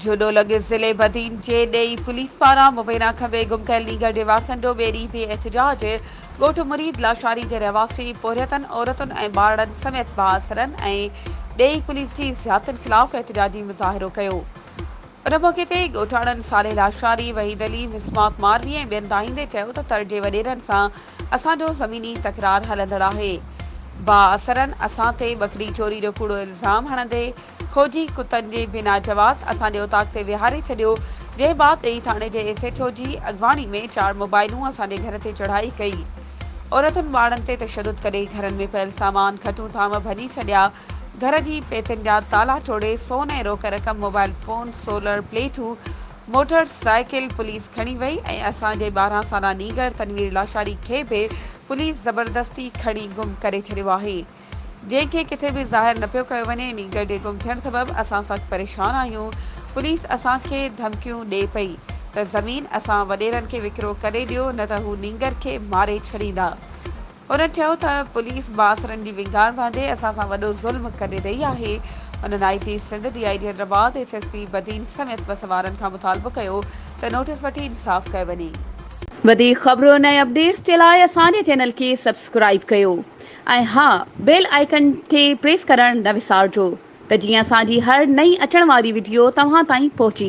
جهڏو لڳ ضلعي بدين جي ڏيئي پوليس پاران مبينا کٻي گم ڪيل نينگر جي وارثنڏو ٻئي ڏينهن به احتجاج، ڳوٺ مريد لاشاري جي رهواسي پورهيتن عورتن ۽ ٻارڙن سميت بااثرن ۽ ڏيئي پوليس جي زيادتين خلاف احتجاجي مظاهرو ڪيو ان موقعي تي ڳوٺاڻن صالح لاشاري، وحيد علي، مسماڪ ماروي ۽ ٻين دانهيندي چيو ته تر جي وڏيرن سان اسان جو زميني تڪرار هلندڙ آهي بااثرن اسان تي ٻڪري چوري جو ڪوڙو الزام هڻندي ڦوجي ڪتن جي بنا جواز اسان جي اتاق تي ويهاري ڇڏيو، جنهن بعد ٽئي ٿاڻي جي ايس ايڇ او جي اڳواڻي ۾ چار موبائلون اسان جي گهر تي چڙهائي ڪئي. عورتن ٻارڙن تي تشدد ڪري گهرن ۾ پيل سامان، کٽون ٿانو ڀڃي ڇڏيا، گهر جي پيتين جا تالا ٽوڙي سون ۽ روڪ رقم، موبائل فون، سولر پليٽون، موٽر سائيڪل پوليس کڻي وئي ۽ اسان جي ٻارهن سالا نينگر تنوير لاشاري کي به پوليس زبردستي کڻي گم ڪري ڇڏيو آهي. جنهن کي ڪٿي به ظاهر نه پيو ڪيو وڃي، انهي گڏي گم ٿيڻ سبب اسان سخت پريشان آهيون، پوليس اسان کي ڌمڪيون ڏئي پئي ته زمين اسان وڏيرن کي وڪرو ڪري ڏيو نه ته هو نينگر کي ماري ڇڏيندا، هن چيو ته پوليس بااثرن جي وينگار باندي اسان سان وڏو ظلم ڪري رهي آهي، انهن I G Sindh, D I G Hyderabad, S S P Badin سميت بس سوارن کان مطالبو ڪيو ته نوٽيس وٺي انصاف ڪيو وڃي. وڌيڪ خبرون ۽ اپڊيٽس جي لاء اسان جي چينل کي سبسڪرائيب ڪيو. ۽ ها بيل آئيڪن کي پريس ڪرڻ نه وسارجو ته جيئن اسان جي هر نئين اچڻ واري وڊيو توهان تائين پهچي